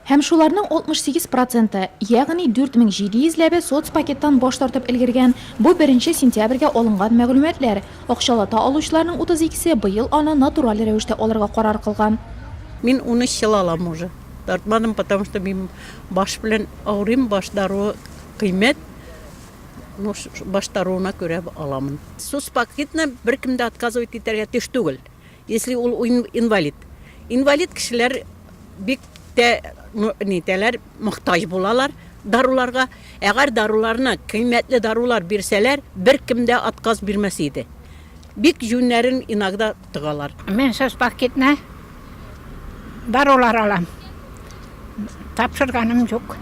Һәм шуларның 68 проценты, ягъни 4700 ләбе соцпакеттан баш тартып өлгергән, бу беренче сентябрьгә алынган мәгълүматлар. Акчалата алучыларның 32се быел аны натураль рәвештә алырга карар кылган. Мин 13 ел алам уже, тартмадым, потому что мин баш белән авырыйм, баш даруы кыйммәт, ну баш даруына күрә аламын. Соцпакетны беркем дә отказывать итәргә тиеш түгел. Если ул инвалид. Инвалид кешеләр бик тә нитәләр, мохтаҗ булалар даруларга. Әгәр даруларны, кыйммәтле дарулар бирсәләр, беркем дә отказ бирмәс иде. Бик җүннәрен иногда тыгалар. Мин сез пакетны дарулар алам. Тапшырганым юк.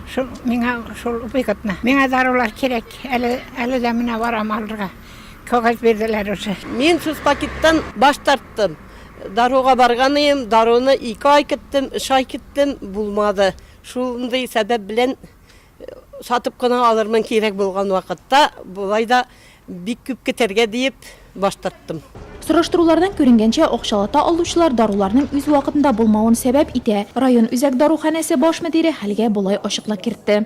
Шул миңа шул выгодно. Миңа дарулар кирәк. Әле әле дә менә барам алырга. Кәгазь бирделәр уже. Мин сүз пакеттан баш тарттым. Даруга барган идем, даруны ике ай көттем, өч ай көттем, булмады. Шундый сәбәп белән сатып кына алырмын кирәк булган вакытта, болай да бик күп көтәргә диеп баш тарттым. Сораштырулардан күренгәнчә, акчалата алучылар даруларның үз вакытында булмавын сәбәп итә. Район үзәк даруханәсе баш мөдире хәлгә болай ачыклык кертте.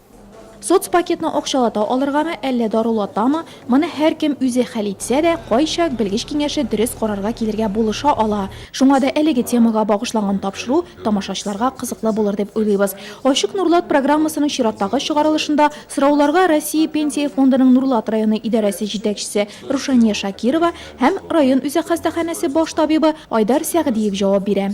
Соцпакетны акчалата алыргамы, әллә дарулатамы, моны һәркем үзе хәл итсә дә, кайчак белгеч киңәше дөрес карарга килергә булыша ала. Шуңа да әлеге темага багышланган тапшыру тамашачыларга кызыклы булыр дип уйлыйбыз. Ачык Нурлат программасының чираттагы чыгарылышында сорауларга Россия Пенсия фондының Нурлат районы идарәсе җитәкчесе Рушания Шакирова һәм район үзәк хастаханәсе баш табибы Айдар Сәгъдиев җавап бирә.